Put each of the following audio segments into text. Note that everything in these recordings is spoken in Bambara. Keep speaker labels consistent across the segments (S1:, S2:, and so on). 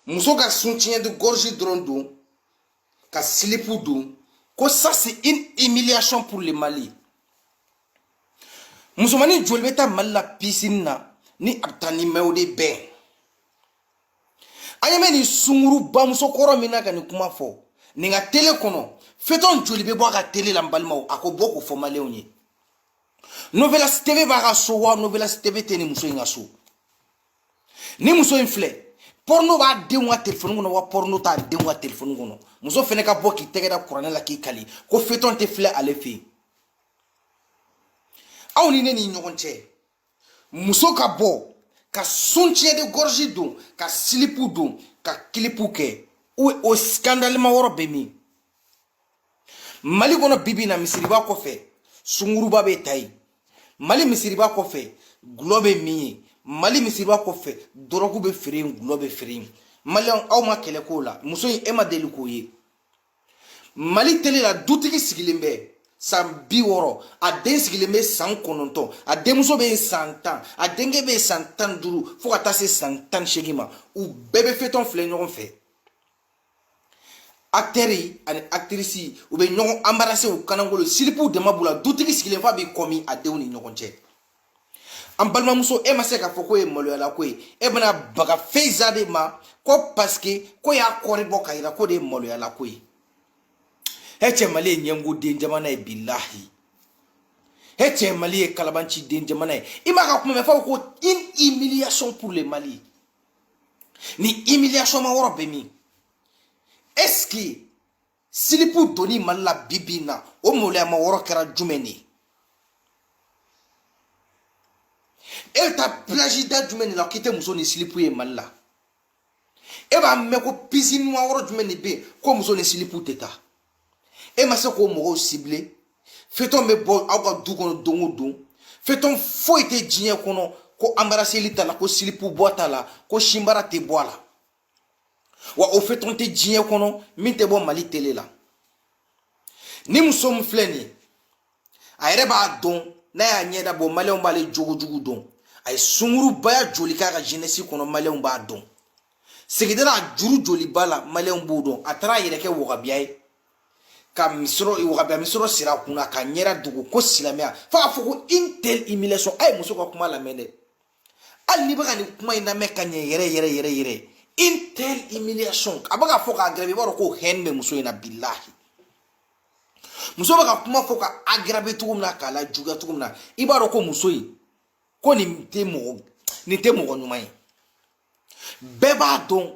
S1: muso ka soutien de gorge dɔrɔn don ka silipu don ko ça c'est une humiliation pour le mali musomanin joli bɛ taa mali la pisini na ni a bɛ taa ni mun de bɛn an ye mɛ nin sunguruba musokɔrɔ min na ka nin kuma fɔ nin ka tele kɔnɔ fetɔn joli bɛ bɔ a ka tele la n balimaw a ka bɔ k'o fɔ maliyɛnw ye novelas tv b'a ka so wa novelas tv tɛ nin muso in ka so nin muso in filɛ pɔrɔno b'a denw ka telefɔni kɔnɔ wa pɔrɔno t'a denw ka telefɔni kɔnɔ muso fɛnɛ ka bɔ k'i tɛgɛ da kuranɛ la k'i kali ko fetɔn tɛ filɛ ale fɛ yen aw ni ne ni ɲɔgɔn cɛ muso ka bɔ ka soutien de gorge don ka silipu don ka kilipu kɛ o o sikandalima yɔrɔ bɛ min mali kɔnɔ bi bi in na misiriba kɔfɛ sunguruba bɛ ta yen mali misiriba kɔfɛ gulɔ bɛ min yen mali misiriba kɔfɛ dɔrɔgu bɛ feere yen gulɔ bɛ feere yen maliyɛnw aw ma kɛlɛ k'o la muso in e ma deli k'o ye mali tele la dutigi sigilen bɛ san bi wɔɔrɔ a den sigilen bɛ san kɔnɔntɔn a denmuso bɛ yen san tan a denkɛ bɛ yen san tan duuru fo ka taa se san tan seegin ma u bɛɛ bɛ fetɔn filɛ ɲɔgɔn fɛ acteurs ani actrices u bɛ ɲɔgɔn embrasser u kanakolo silipuw dama b'u la dutigi sigilen f'a b'i kɔmi a denw ni ɲɔgɔn cɛ an balimamuso e ma se k'a fɔ k'o ye maloyala ko ye e bɛna baga faïza de ma ko parce que k'o y'a corps bɔ k'a yira k'o de ye maloyala ko ye he cɛ mali ye ɲɛngo den jamana ye bilahi he cɛ mali ye kalabanci den jamana ye i m'a ka kuma mɛn fo ko une humiliation pour le mali nin humiliation ma yɔrɔ bɛ min est ce que silipu donni mali la bi bi in na o maloyama yɔrɔ kɛra jumɛn de ye e bɛ taa plage da jumɛn de la k'i tɛ muso ni silipu ye mali la e b'a mɛn ko pisini ma yɔrɔ jumɛn de bɛ yen ko muso ni silipu tɛ taa e ma se k'o mɔgɔw sibile fetɔn bɛ bɔ aw ka du kɔnɔ don o don fetɔn foyi tɛ diɲɛ kɔnɔ ko anbaraseli t'a la ko silipu bɔ t'a la ko sinbara tɛ bɔ a la wa o fetɔn tɛ diɲɛ kɔnɔ min tɛ bɔ mali tele la nin muso min filɛ nin ye a yɛrɛ b'a dɔn n'a y'a ɲɛda bɔ maliyɛnw b'ale jogojugu dɔn a ye sungurubaya joli k'a ka jenesi kɔnɔ maliyɛnw b'a dɔn sigida la juru joli b'a la maliyɛnw b'o dɔn a taara a yɛrɛ kɛ wahabiya ye ka misɔrɔ wahabiya misɔrɔ siri a kunna k'a ɲɛda dogo ko silamɛya fo k'a fɔ ko une telle humiliation a ye muso ka kuma lamɛn dɛ hali n'i bɛ ka nin kuma in lamɛn ka ɲɛ yɛrɛ yɛrɛ yɛrɛ yɛrɛ une telle humiliation a bɛ k'a fɔ k'a gɛrɛ i b'a dɔn ko haine bɛ muso in na bilahi muso bɛ ka kuma fɔ k'a agarabe cogo min na k'a lajuguya cogo min na i b'a dɔn ko muso in ko nin tɛ mɔgɔ nin tɛ mɔgɔ ɲuman ye bɛɛ b'a dɔn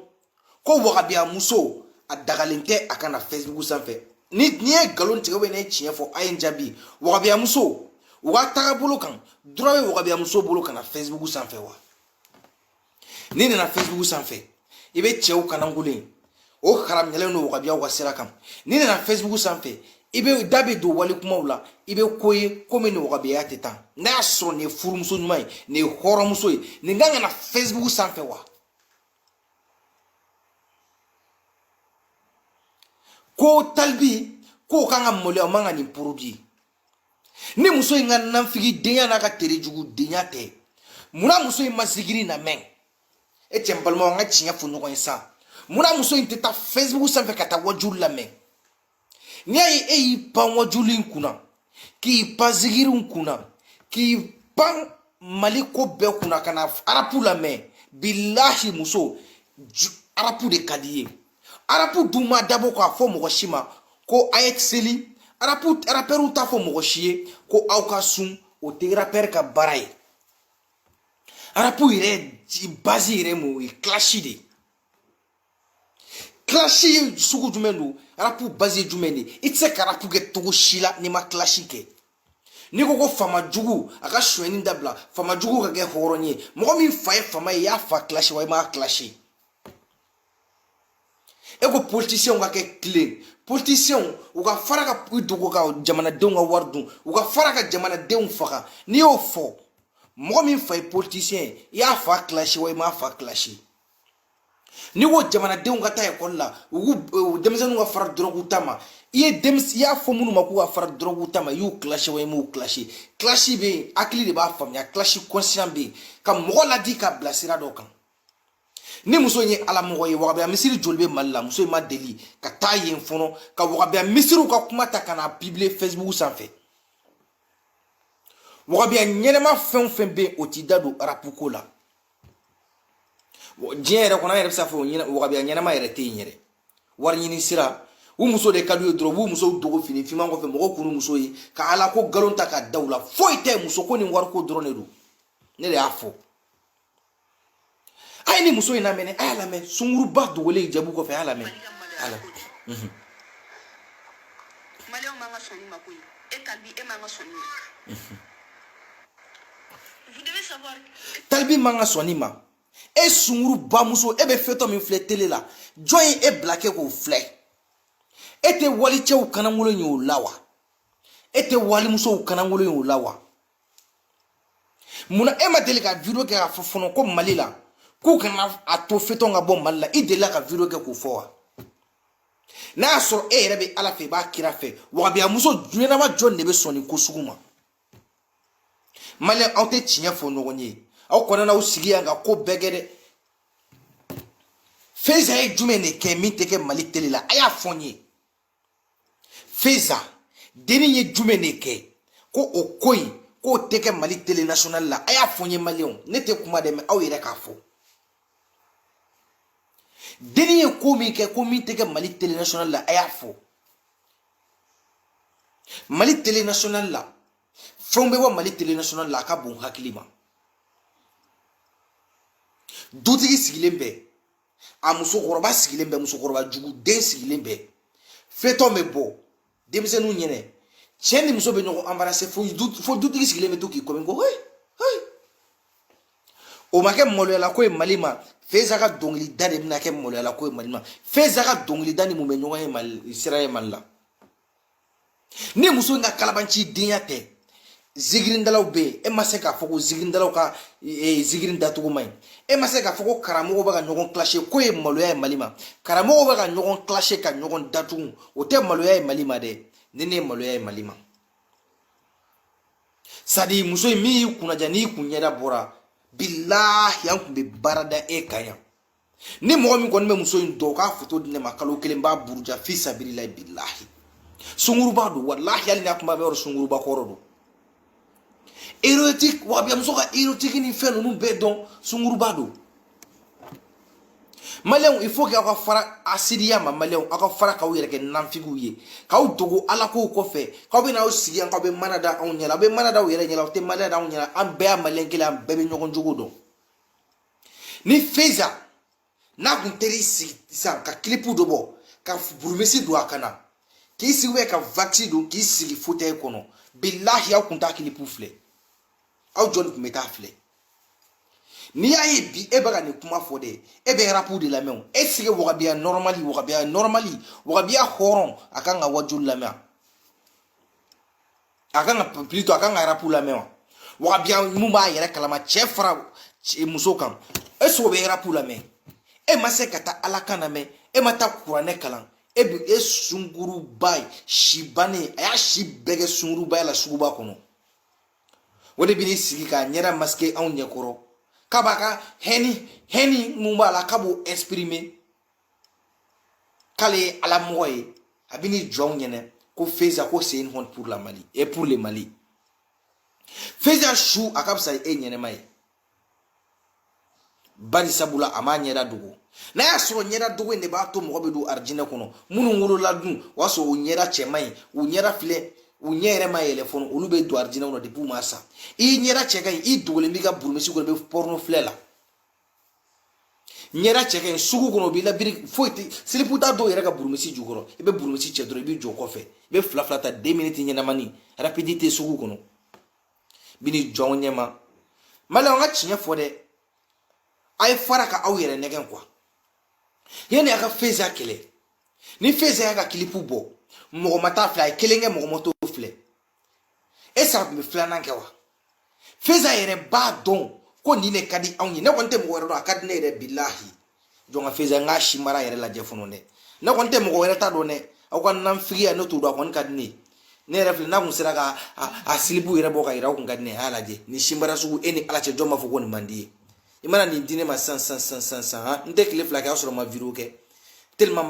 S1: ko wagabiya muso a dagalen tɛ a ka na fɛsibugu sanfɛ ni n ye nkalon tigɛ ubiyɛn n ye tiɲɛ fɔ a ye n jaabi wagabiya muso u ka tagabolo kan duruwa bɛ wagabiya muso bolo ka na fɛsibugu sanfɛ wa n'i nana fɛsibugu sanfɛ i bɛ cɛw ka lankolon ye o haramuyalen don wagabiyaw ka sira kan n'i nana fɛsibugu sanfɛ i bɛ da bɛ don wali kumaw la i bɛ ko ye ko min ni wagabiya tɛ taa n'a y'a sɔrɔ nin ye furumuso ɲuman ye nin ye hɔrɔnmuso ye nin kan ka na fɛsibugu sanfɛ wa ko talibi k'o kan ka maloya o man ka nin pibiliye ni muso in ka nanfigidenya n'a ka terejugudenya tɛ munna muso in ma zikiri lamɛn e cɛ n balimaw an ka tiɲɛ fɔ ɲɔgɔn ye sa munna muso in tɛ taa facebook sanfɛ ka taa wajuli lamɛn n'i y'a ye e y'i pan wajuli in kunna k'i pan zikiri in kunna k'i pan mali ko bɛɛ kunna ka na arapu lamɛn bilahi muso arapu de ka d'i ye arapu dun ma dabɔ k'a fɔ mɔgɔ si ma ko a ye seli arapu arapɛriw t'a fɔ mɔgɔ si ye ko aw ka sun o tɛ arapɛri ka baara ye arapu yɛrɛ bazi yɛrɛ mun o ye kilasi de ye kilasi sugu jumɛn don arapu bazi ye jumɛn de ye i tɛ se ka arapu kɛ cogo si la n'i ma kilasi kɛ n'i ko ko faama jugu a ka sonyɛni dabila faama jugu ka kɛ hɔrɔn ye mɔgɔ min fa ye faama ye i y'a fa kilasi wa i m'a kilasi e ko politisiɲɛw ka kɛ tilen politisiɲɛw u ka fara ka i dogo ka jamanadenw ka wari dun u ka fara ka jamanadenw faga n'i y'o fɔ mɔgɔ min fa ye politisiɲɛ ye i y'a fa kilasi wa i m'a fa kilasi n'i ko jamanadenw ka taa ekɔli la u k'u denmisɛnninw ka fara dɔrɔguw ta ma i ye denmisɛn i y'a fɔ minnu ma k'u ka fara dɔrɔguw ta ma i y'u kilasi wa i m'u kilasi kilasi bɛ yen hakili de b'a faamuya kilasi kɔnsiyan bɛ yen ka mɔgɔ ladi ka bila sira dɔ kan ni muso in ye ala mɔgɔ ye wagabiya misiri joli bɛ mali la muso in ma deli ka taa yen fɔlɔ ka wagabiya misiriw ka kuma ta ka n'a pibiliye facebook sanfɛ wagabiya ɲɛnɛma fɛn o fɛn bɛ yen o t'i da don arapu ko la diɲɛ yɛrɛ kɔnɔ an yɛrɛ bɛ se k'a fɔ wagabiya ɲɛnɛma yɛrɛ tɛ yen yɛrɛ wari ɲini sira ni muso de ka d'u ye dɔrɔn u b'u musow dogo fini finman kɔfɛ mɔgɔw kan'u muso ye ka ala ko nkalon ta ka da u la foyi tɛ muso ko ni wariko dɔrɔn de don ne de y'a fɔ a ye nin muso in lamɛn a y'a lamɛn sunguruba dogolen hijabu kɔfɛ a y'a lamɛn a la maliyɛnw man ka sɔnni ma ko ye e talibi e man ka sɔnni ma talibi man ka sɔnni ma e sunguruba muso e bɛ fetɔn min filɛ tele la jɔn ye e bila kɛ k'o filɛ e tɛ walicɛw kannankolon ye o la wa e tɛ walimusow kannankolon ye o la wa mun na e ma deli ka video kɛ k'a fɔ fɔlɔ ko mali la k'u kana a to fetɔn ka bɔ mali la i delila ka video kɛ k'o fɔ wa n'a y'a sɔrɔ e yɛrɛ bɛ ala fɛ i b'a kira fɛ wagabiyamuso ɲɛnama jɔn de bɛ sɔn nin ko sugu ma maliyɛn aw tɛ tiɲɛ fɔ ɲɔgɔn ye aw kɔnɔna aw sigi yan ka ko bɛɛ kɛ dɛ feza ye jumɛn de kɛ min tɛ kɛ mali tele la a y'a fɔ n ye feza denni ye jumɛn de kɛ ko o ko in k'o tɛ kɛ mali tele national la a y'a fɔ n ye maliyɛnw ne tɛ kuma dɛ mɛ aw yɛrɛ k'a fɔ denni ye ko min kɛ ko min tɛ kɛ mali tele national la a y'a fɔ mali tele national la fɛnw bɛ bɔ mali tele national la a ka bon hakili ma dutigi sigilen bɛ a musokɔrɔba sigilen bɛ musokɔrɔba jugu den sigilen bɛ fetɔn bɛ bɔ denmisɛnninw ɲɛna cɛ ni muso bɛ ɲɔgɔn anbarase fo dutigi sigilen bɛ to k'i kɔmi ko hei hei o ma kɛ maloyala ko ye mali ma feza ka dɔnkilida de bɛna kɛ maloyala ko ye mali ma feza ka dɔnkilida ni mun bɛ ɲɔgɔn ye mali sira ye mali la ni muso in ka kalabanci denya tɛ zikiridalaw bɛ yen e ma se k'a fɔ ko zikiridalaw ka e, zikiri dacogo man ɲi e ma se k'a fɔ ko karamɔgɔw bɛ ka ɲɔgɔn kilase k'o ye maloya ye mali ma karamɔgɔw bɛ ka ɲɔgɔn kilase ka ɲɔgɔn datugu o tɛ maloya ye mali ma dɛ nin de ye maloya ye mali ma sabi muso in min y'i kunnaja n'i kun ɲɛda bɔra bilahi an kun bɛ baara da e kan yan ni mɔgɔ min kɔni bɛ muso in dɔn k'a foto di ne ma kalo kelen b'a buruja fi sabililayi bilahi sunguruba don walahi hali n'a kuma bɛ yɔrɔ sunguruba kɔrɔ don erotique wa bɛ muso ka erotique ni fɛn ninnu bɛɛ dɔn sunguruba don maliyɛnw il faut que aw ka fara hasidiya ma maliyɛnw aw ka fara k'aw yɛrɛ kɛ nanfigiw ye k'aw dogo ala kow kɔfɛ k'aw bɛ n'aw sigi yan k'aw bɛ mana da anw ɲɛ la aw bɛ mana da aw yɛrɛ ɲɛ la aw tɛ mana da anw ɲɛ la an bɛɛ ye maliyɛn kelen an bɛɛ bɛ ɲɔgɔn jogo dɔn ni feza n'a kun teri sigi sisan ka kilipu dɔ bɔ ka burumusi don a ka na k'i sigi bɛ ka wakisi don k'i sigi fotɛyi kɔnɔ bilahi aw kun t'a kilipu filɛ aw jɔni kun bɛ taa filɛ n'i y'a ye bi e bɛ ka nin kuma fɔ dɛ e bɛ rapu de lamɛn o e sigi wagabiya nɔrɔmali wagabiya nɔrɔmali wagabiya hɔrɔn a kan ka wajuli lamɛn a kan ka plutôt a kan ka rapu lamɛn wa wahabiya min b'a yɛrɛ kalama cɛ fara muso kan e sogo bɛ rapu lamɛn e ma se ka taa ala kan lamɛn e ma taa kuranɛ kalan e bi e sunkuruba ye si bannen a y'a si bɛɛ kɛ sunkurubaya la suguba kɔnɔ o de bɛn'i sigi k'a ɲɛda maske anw ɲɛkɔrɔ k'a b'a ka hɛni hɛni min b'a la k'a b'o exprimer k'ale ye ala mɔgɔ ye a bɛ ni jɔnw ɲɛnɛ ko feza ko c'est une honte pour le mali et pour le mali feza su a ka fisa e ɲɛnɛma ye bari sabula a m'a ɲɛda dogo n'a y'a sɔrɔ ɲɛda dogo in de b'a to mɔgɔ bɛ don arijinɛ kɔnɔ minnu wolola dun o y'a sɔrɔ u ɲɛda cɛman ye u ɲɛda filɛ u ɲɛ yɛrɛ ma yɛlɛ fɔlɔ olu bɛ don arijinɛ kɔnɔ depi u ma sa i ɲɛda cɛ ka ɲi i dogolen b'i ka burumisi kɔnɔ i bɛ pɔrɔno filɛ la ɲɛda cɛ ka ɲi sugu kɔnɔ o b'i labiri foyi tɛ silipu tɛ dɔw yɛrɛ ka burumisi jukɔrɔ i bɛ burumisi cɛ dɔrɔn i b'i jɔ kɔfɛ i bɛ fila fila ta deux minutes ɲɛnamani rapidi tɛ sugu kɔnɔ bi ni jɔn ɲɛ ma mali an ka tiɲɛ fɔ dɛ a ye fara ka aw yɛrɛ nɛgɛn kuwa yanni a ka feza kɛlɛ ni feza y'a ka kilipu bɔ mɔgɔ ma t'a filɛ a ye kelen kɛ mɔgɔ ma t'o filɛ est-ce qu'a tun bɛ filanan kɛ wa feza yɛrɛ b'a dɔn ko nin de ka di anw ye ne kɔni tɛ mɔgɔ wɛrɛ dɔn a ka di ne yɛrɛ bilahi jɔn ka feza n k'a si mara yɛrɛ lajɛ fɔlɔ dɛ ne kɔni tɛ mɔgɔ wɛrɛ ta dɔn dɛ aw ka nanfigiya ne t'o dɔn a kɔni ka di ne ye ne yɛrɛ filɛ n'a kun sera ka a silipu yɛrɛ bɔ ka yira a kun ka di ne ye a y'a lajɛ nin simara sugu e ni ala cɛ jɔn b'a fɔ ko nin man di a ye i mana nin di ne ma sisan sisan sisan sisan n tɛ tile fila kɛ a sɔrɔ n ma wideyo kɛ teliman